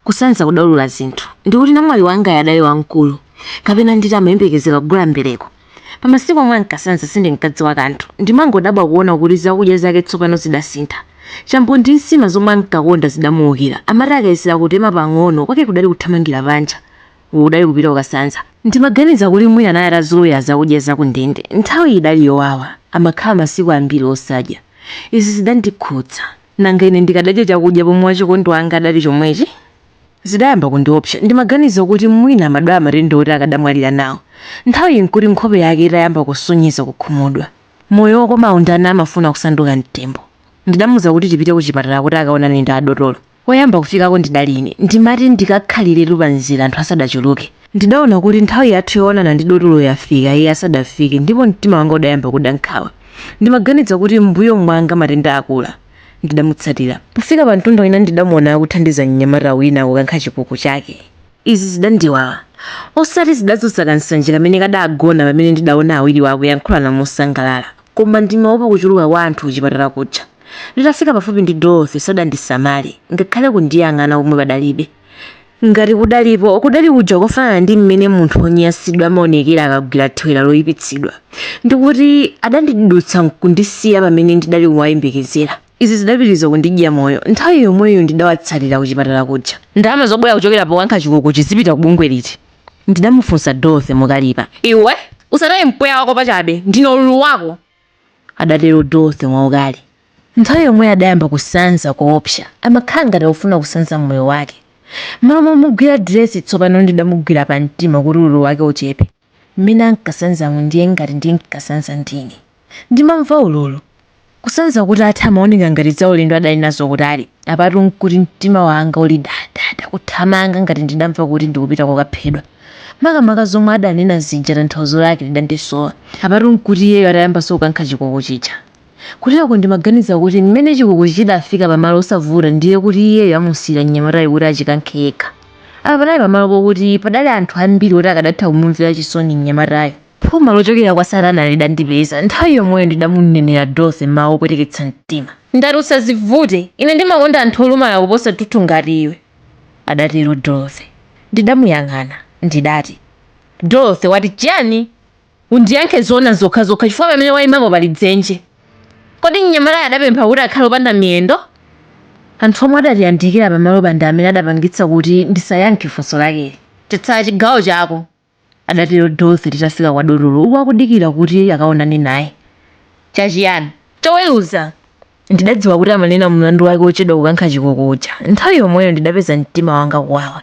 kusanza kudaulula zinthu ndikuti namwali wangayo adali wamkulu kapena nditi amayembekezera kugula mbereko. Pamasiku omwe ankasanza sindinkadziwa kanthu, ndimangodabwa kuona kuti zakudya zake tsopano zidasintha. Chambo ndi nsima zomwe ankakonda zidamuukira, amati akayesera kutema pang'ono kwake kudali kuthamangira panja, uku kudali kupita kukasanza. Ndimaganiza kuti mwina anali atazolowera zakudya za kundende, nthawiyi idali yowawa, amakhala masiku ambiri osadya. Izi zidandikhudza. Nanga ine ndikadadya chakudya pomwe wachikondi wanga adali chomwechi? Zidayamba kundiopsa. Ndimaganiza kuti mwina amadwala matenda oti akadamwalira nawo. Nthawiyi nkuti nkhope yake itayamba kusonyeza kukhumudwa. Moyo wokomawu ndani amafuna kusanduka mtembo? Ndidamuza kuti tipite kuchipatala kuti akaonane ndi adotolo. Woyamba kufikako ndidali ine. Ndimati ndikakhaliretu pamzere anthu asadachuluke. Ndidaona kuti nthawi yathu yoonana ndi dotolo yafika iye asadafike ndipo mtima wanga udayamba kuda nkhawa. Ndimaganiza kuti m'mbuyo mwanga matenda akula. Ndidamutsatira. Pofika pamtunda wina ndidamuona akuthandiza mnyamata wina kukankha chikuku chake. Izi zidandiwawa. Osati zidadzutsa kansanje kamene kadagona pamene ndidaona awiriwa akuyankhulana mosangalala. Koma ndimaopa kuchuluka kwa anthu kuchipatala kuja. Nditafika pafupi ndi Dorothy sadandisamale, ngakhale kundiyang'ana komwe padalibe. Ngati kudalipo, kudali kuja kofanana ndi mmene munthu wonyansidwa amaonekera akagwira thewera loipitsidwa, ndi kuti adandidutsa nkundisiya pamene ndidali kuwayembekezera. Izi zidapitiriza kundidya moyo. Nthawi yomweyo ndidawatsatira kuchipatala kuja. Ndalama zobwera kuchokera pokankha chikukuchi zipita ku bungwe liti? ndidamufunsa Dorothy mokalipa. Iwe usataye mpweya wako pachabe! Ndine ululu wako! adatero Dorothy mwaukali. Nthawi yomweyo adayamba kusanza koopsa. Amakhala ngati akufuna kusanza moyo wake. Mmalo momugwira diresi tsopano ndidamugwira pamtima kuti ululu wake uchepe. Mmene ankasanzamu ndiye ngati ndinkasanza ndine. Ndimamva ululu. Kusanza kutatha amaoneka ngati zaulendo adali nazo kutali. Apatu n'kuti mtima wanga uli dadada kuthamanga ngati ndidamva kuti ndikupita kokaphedwa. Makamaka zomwe adanena zija tanthauzo lake lidandisowa. Apatu n'kuti iyeyo atayambanso kukankha chikuku chija. Kuteroko ndimaganiza kuti mmene chikukuchi chidafika pamalo osavuta ndiye kuti iyeyo amusiyira mnyamatayu kuti achikankhe yekha. Apa panali pamalo pokuti padali anthu ambiri oti akadatha kumumvera chisoni mnyamatayo. Phuma lochokera kwa satana lidandipeza. Nthawi yomweyo ndidamunenera Dorothy mawu opweteketsa mtima. Ndati usadzivute. Ine ndimakonda anthu olumala kuposa athunthu ngati iwe. adatero Dorothy. Ndidamuyang'ana, ndidati, Dorothy, wati chiyani? Undiyankhe zoona zokhazokha chifukwa pamene waimapo pali dzenje. Kodi mnyamatayo adapempha kuti akhale opanda miyendo? Anthu omwe adatiyandikira pamalopa ndi amene adapangitsa kuti ndisayankhe funso lakeli. Chatsala chigawo chako. adatero Dorothy Titafika kwa dotolo uku akudikira kuti akaonane naye Cha chiyani? choweruza Ndidadziwa kuti amanena mlandu wake wochedwa kukankha chikuku uja Nthawi yomweyo ndidapeza mtima wanga kuwawa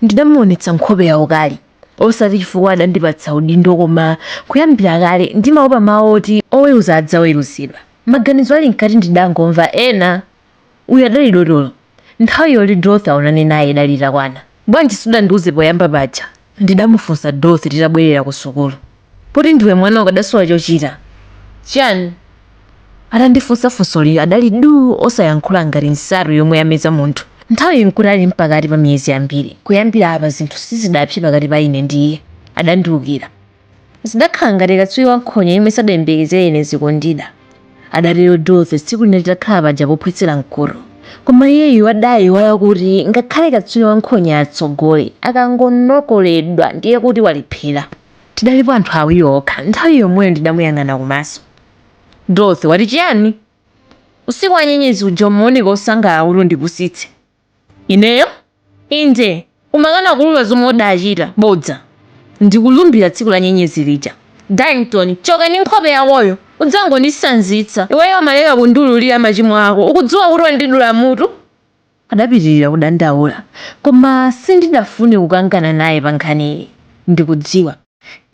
Ndidamuonetsa nkhope ya ukali Osati chifukwa adandipatsa udindo koma Kuyambira kale ndimaopa mawu oti oweruza adzaweruzidwa Maganizo ali mkati ndidangomva ena Uyu adali dotolo. Nthawi yoti Dorothy aonane naye idali itakwana. Bwanji sudandiuze poyamba paja? ndidamufunsa Dorothy titabwerera kusukulu. Poti ndiwe mwana ukadasowa chochita. Chani? Atandifunsa funsoli adali duu osayankhula ngati nsato yomwe yameza munthu. Nthawiyi nkuti ali mpakati pa miyezi yambiri. Kuyambira apa zinthu sizidapse pakati pa ine ndi iye. Adandiukira. Zidakhala ngati katswiri wa nkhonya yemwe sadayembekezere ine zikundida, adatero Dorothy tsiku lina titakhala paja pophwetsera mkhuto. Koma iyeyu adaiwala kuti ngakhale katswiri wa nkhonya atsogole, akangonokoledwa ndiye kuti walephera. Tidalipo anthu awiri okha nthawi yomweyo ndidamuyang'ana kumaso. Dorothy, wati chiyani? Usiku wa nyenyezi uja umaoneka wosangalala kuti undipusitse. Ineyo? Inde, umakana kuulula zomwe udachita. Bodza! Ndikulumbira tsiku la nyenyezi lija. Darlington, choka ndi nkhope yakoyo! Udzangondisanzitsa. Iweyo umaleka kundiululira machimo ako. Ukudziwa kuti wandidula mutu? adapitirira kudandaula. Koma sindidafune kukangana naye pankhaniyi, ndikudziwa.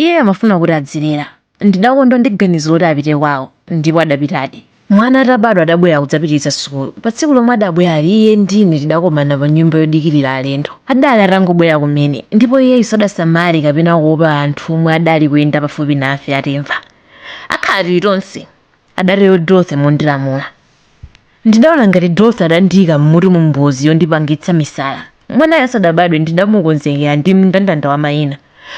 Iyeyo amafuna kuti adzilera. Ndidakondwa ndi ganizo loti apite kwawo, ndipo adapitadi. Mwana atabadwa adabwera kudzapitiriza sukulu. Pa tsiku lomwe adabwerali iye ndi ine tidakomana pa nyumba yodikirira alendo. Adali atangobwera kumene, ndipo iyeyu sadasamale kapena kuopa anthu omwe adali kuyenda pafupi nafe atimva. Akhala Tilitonse, adatero Dorothy mondilamula. Ndidaona ngati Dorothy adandiika m'mutumu mbozi yondipangitsa misala. Mwanayo asadabadwe ndidamukonzekera ndi mndandanda wa maina.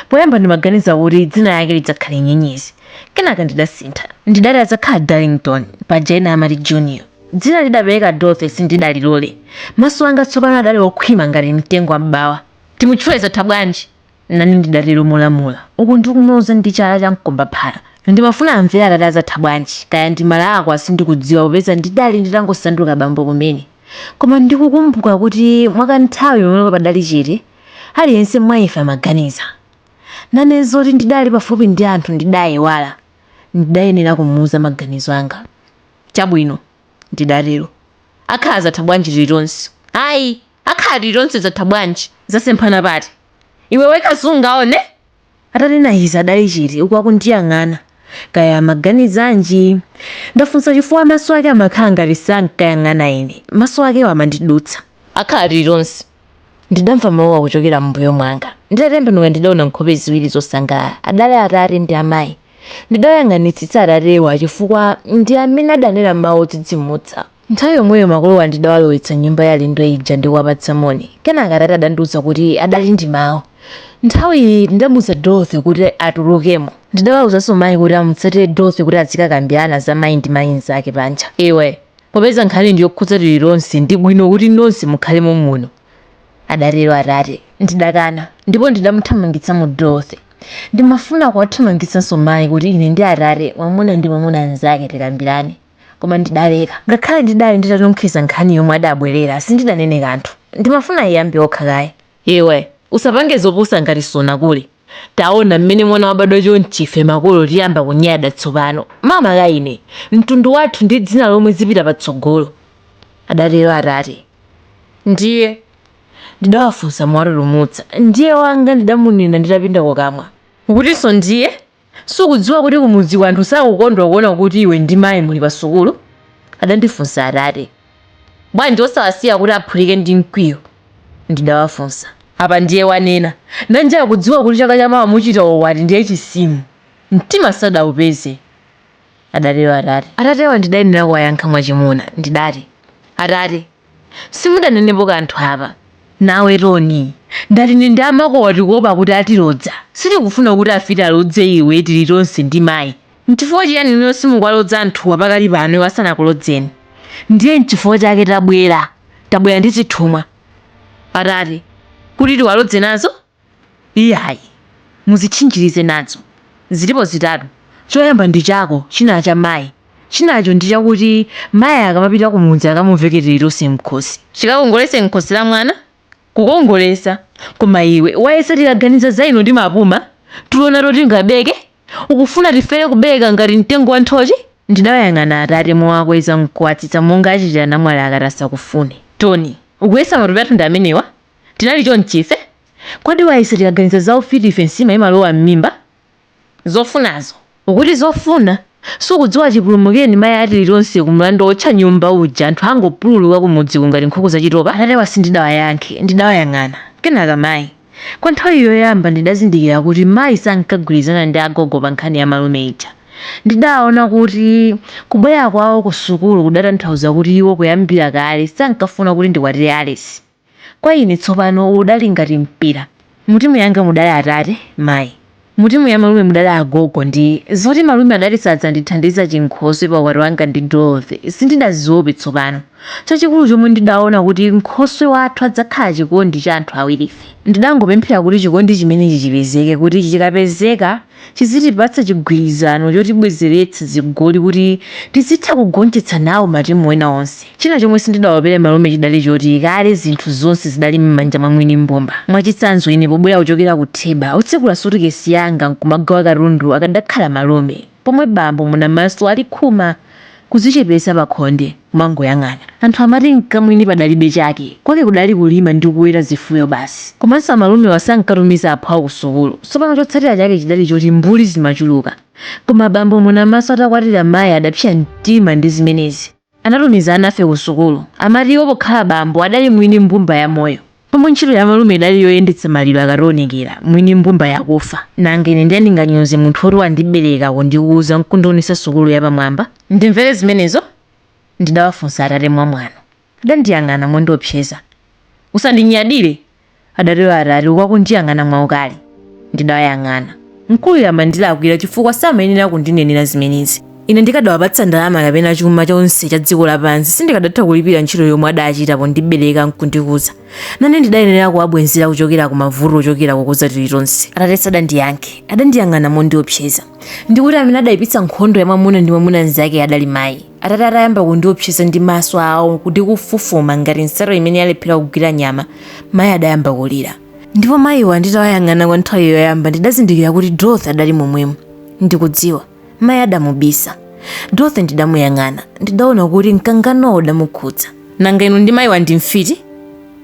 Poyamba ndimaganiza kuti dzina lake lidzakhale Nyenyezi. Kenaka ndidasintha. Ndidati adzakhala Darlington, paja ena amati Junior. Dzina lidapereka Dorothy sindidalilole. Maso anga tsopano adali okhwima ngati mtengo wa m'bawa. Timutchule Zathabwanji Nane ndidatero molamula, uku ndikumuloza ndi chala cha mkombaphala. Ndimafuna amvere atate a Zathabwanji. Kaya ndimalakwa sindikudziwa popeza ndidali nditangosanduka bambo kumene. Koma ndikukumbuka kuti mwakanthawi pamene padali chete, aliyense mwa ife amaganiza. Nane zoti ndidali pafupi ndi anthu ndidaiwala. Ndidayenera kumuuza maganizo anga. Chabwino, ndidatero. Akhala Zathabwanji. Tilitonse? Ayi! Akhala Tilitonse. Zatha bwanji? Zasemphana pati? Iwe wekha sungaone? Atanena izi adali chete uku akundiyang'ana. Kaya amaganizanji? Ndafunsa chifukwa maso ake amakhala ngati sankayang'ana ine. Maso akewo amandidutsa. Akhala Tilitonse, ndidamva mawu akuchokera mmbuyo mwanga. Nditatembenuka ndidaona nkhope ziwiri zosangalala. Adali atate ndi amayi. Ndidawayang'anitsitsa atatewa chifukwa ndi amene adanena mawu odzidzimutsa. Nthawi yomweyo makolowa ndidawalowetsa m'nyumba ya alendo ija ndi kuwapatsa moni. Kenaka atate adandiuza kuti adali ndi mawu. Nthawi iyi ndidamuza Dorothy kuti atulukemo. Ndidawauzanso mayi kuti amutsatire Dorothy kuti azikakambirana za mayi ndi mayi mnzake panja. Iwe, popeza nkhani ndi yokhudza Tilitonse ndi bwino kuti nonse mukhale mommuno, adatero atate. Ndidakana ndipo ndidamuthamangitsamo Dorothy. Ndimafuna kuwathamangitsanso mayi kuti ine ndi atate, mwamuna ndi mwamuna mnzake, tikambirane. koma ndidaleka. Ngakhale ndidali nditanunkhiza nkhani yomwe adabwerera, sindidanene kanthu. Ndimafuna aiyambe okha kaye. Iwe, usapange zopusa ngati sunakule. Taona mmene mwana wabadwa chonchi ife makolo tiyamba kunyada tsopano. Makamaka ine, mtundu wathu ndi dzina lomwe zipita patsogolo, adatero atate. Ndiye? ndidawafunsa mowatutumutsa. Ndiye wanga ndidamunena nditapinda kukamwa. Ukutinso ndiye? Sukudziwa kuti kumudziko anthu sakukondwa kuona kuti iwe ndi mayi muli pasukulu? adandifunsa Atate. Bwanji osawasiya kuti aphulike ndi mkwiyo? ndidawafunsa. Apa ndiye wanena. Nanji akudziwa kuti chaka chamawa muchita ukwati ndiye chisimo, mtima sadaupeze, adatero Atate. Atatewa ndidayenera kuwayankha mwachimuna. Ndidati, Atate, simudanenepo kanthu apa. Nawe Toni, ndati ine ndi amakowa tikuopa kuti atilodza. Sitikufuna kuti afiti alodze iwe Tilitonse ndi mayi. N'chifukwa chiyani inuyo simukuwalodza anthuwa pakali pano iwo asanakulodzeni? Ndiye n'chifukwa chake tabwera. Tabwera ndi zithumwa, atate, kuti tiwalodze nazo. Iyayi, muzitchinjirize nazo. Zilipo zitatu. Choyamba ndi chako, china cha mayi. Chinacho ndi chakuti mayi akamapita kumudzi akamuveke Tilitonse m'khosi. Chikakongoletse m'khosi la mwana, kukongoletsa. Koma iwe wayesa tikaganiza za inu timapuma, tulo nato tingabeke? Ukufuna tifere kubereka ngati mtengo wa nthochi? Ndidawayang'ana atate mowakweza n'kuwatsitsa monga achitira namwali akati asakufune. Toni, ukuyesa matupi athu ndi amenewa? Tinali chonchi ife? Kodi wayesa tikaganiza za ufiti ife nsima imalowa mmimba? Zofunazo. Ukuti zofuna? Sukudziwa chipulumukireni mayi a Tilitonse ku mlandu wootcha nyumba uja anthu angopululuka kumudziku ngati nkhuku za chitopa? Atatewa sindidawayankhe ndidawayang'ana. Kenaka mayi. Kwa nthawi yoyamba ndidazindikira kuti mayi sankagwirizana ndi agogo pa nkhani ya malume ija. Ndidaona kuti kubwera kwawo ku sukulu kudatanthauza kuti iwo kuyambira kale sankafuna kuti ndikwatire Alesi. Kwa ine tsopano uwu udali ngati mpira. Mutimu yanga mudali atate, mayi. Mutimu ya malume mudali agogo ndi zoti malume adati sadzandithandiza chinkhoswe pa ukwati wanga ndi Dorothy sindidaziope tsopano. Chachikulu chomwe ndidaona kuti nkhoswe wathu adzakhala chikondi cha anthu awirife. Ndidangopemphera kuti chikondi chimenechi chipezeke kuti chikapezeka. chizitipatsa chigwirizano chotibwezeretsa zigoli kuti tizitha kugonjetsa nawo matimu ena onse. China chomwe sindidaopere malume chidali choti kale zinthu zonse zidali mmanja mwa mwini mbumba. Mwachitsanzo ine pobwera kuchokera ku Theba otsekula sutikesi yanga nkumagawa katundu akadakhala malume. Pomwe bambo Munamaso ali khuma. kudzichepetsa pakhonde, kumangoyang'ana. Anthu amati mkamwini padalibe chake, kwake kudali kulima ndi kuweta zifuyo basi. Komanso amalumewa sankatumiza aphwawo kusukulu. Tsopano chotsatira chake chidali choti mbuli zimachuluka. Koma bambo Munamaso atakwatira mayi adapsya mtima ndi zimenezi. Anatumiza anafe kusukulu. Amati iwo pokhala bambo adali mwini mbumba ya moyo. Pomwe ntchito ya malume idali yoyendetsa maliro akationekera mwini mbumba yakufa. Nanga ine ndiye ndinganyoze munthu oti wandibereka kundikuza nkundionesa sukulu yapamwamba? Ndimvere zimenezo? ndidawafunsa atate mwamwano. Adandiyang'ana mondiopseza. Usandinyadire! adatero atate uku akundiyang'ana mwaukali. Ndidawayang'ana. Mkuluyo amandilakwira chifukwa samayenera kundinenera zimenezi. Ine ndikadawapatsa ndalama kapena chuma chonse cha dziko lapansi, sindikadatha kulipira ntchito yomwe adachita pondibereka nkundikuza. Nane ndidayenera kuwabwenzera kuchokera ku mavuto ochokera kukuza tilitonse. Atate sadandiyankhe. Adandiyang'ana mondiopseza. Ndi kuti amene adaipitsa nkhondo ya mwamuna ndi mwamuna mnzake adali mai. Atate atayamba kundiopseza ndi maso ao ndi kufufuma ngati nsato imene yalephera kugwira nyama, mai adayamba kulira. ndipo mayiwa nditawayang'ana kwa nthawi yoyamba ndidazindikira kuti dorothy adali momwemo ndikudziwa mayi adamubisa dorothy ndidamuyang'ana ndidaona kuti mkanganowo udamukhudza nanga inu ndi mayiwa ndi mfiti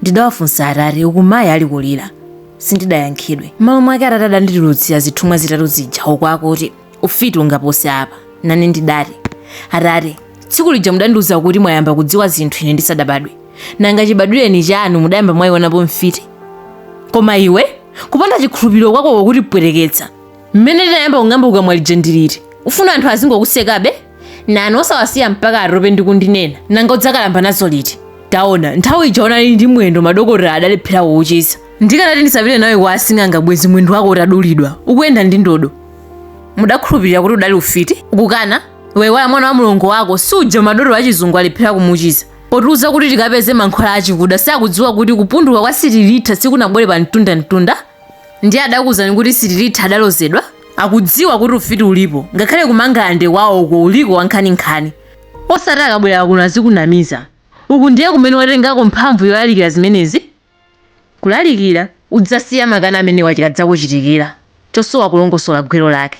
ndidawafunsa atate uku mayi ali kulira sindidayankhidwe m'malo mwake atate adanditulutsira zithumwa zitatu zija uku akuti ufiti ungapose apa nane ndidati atate tsiku lija mudandiuza kuti mwayamba kudziwa zinthu ine ndisadabadwe nanga chibadwireni chanu mudayamba mwayionapo mfiti koma iwe kupanda chikhulupiriro kwako kukutipweteketsa mmene ndinayamba kung'amba kukamwa lija ndi liti ufuna anthu azingokusekabe nani osawasiya mpaka atope ndi kundinena nanga udzakalamba nazo liti taona nthawi ija unali ndi mwendo madokotala adalephera kuuchiza ndikanati ndisapite nawe kwa asing'anga bwezi mwendo wako utadulidwa ukuyenda ndi ndodo mudakhulupirira kuti udali ufiti ukukana waiwala mwana wa mlongo wako suja madotolo achizungu alephera kumuchiza potiuza kuti tikapeze mankhwala achikuda sakudziwa kuti kupunduka kwa sitilitha sikunabwere pa mtundamtunda ndiye adakuuzani kuti sitilitha adalozedwa akudziwa kuti ufiti ulipo ngakhale kumangalande kwawo uko uliko wankhaninkhani osati akabwera kuno azikunamiza uku ndiye kumene watengako mphamvu yolalikira zimenezi kulalikira. Udzasiya makani amenewa chikadzakuchitikira chosowa kulongosola gwero lake.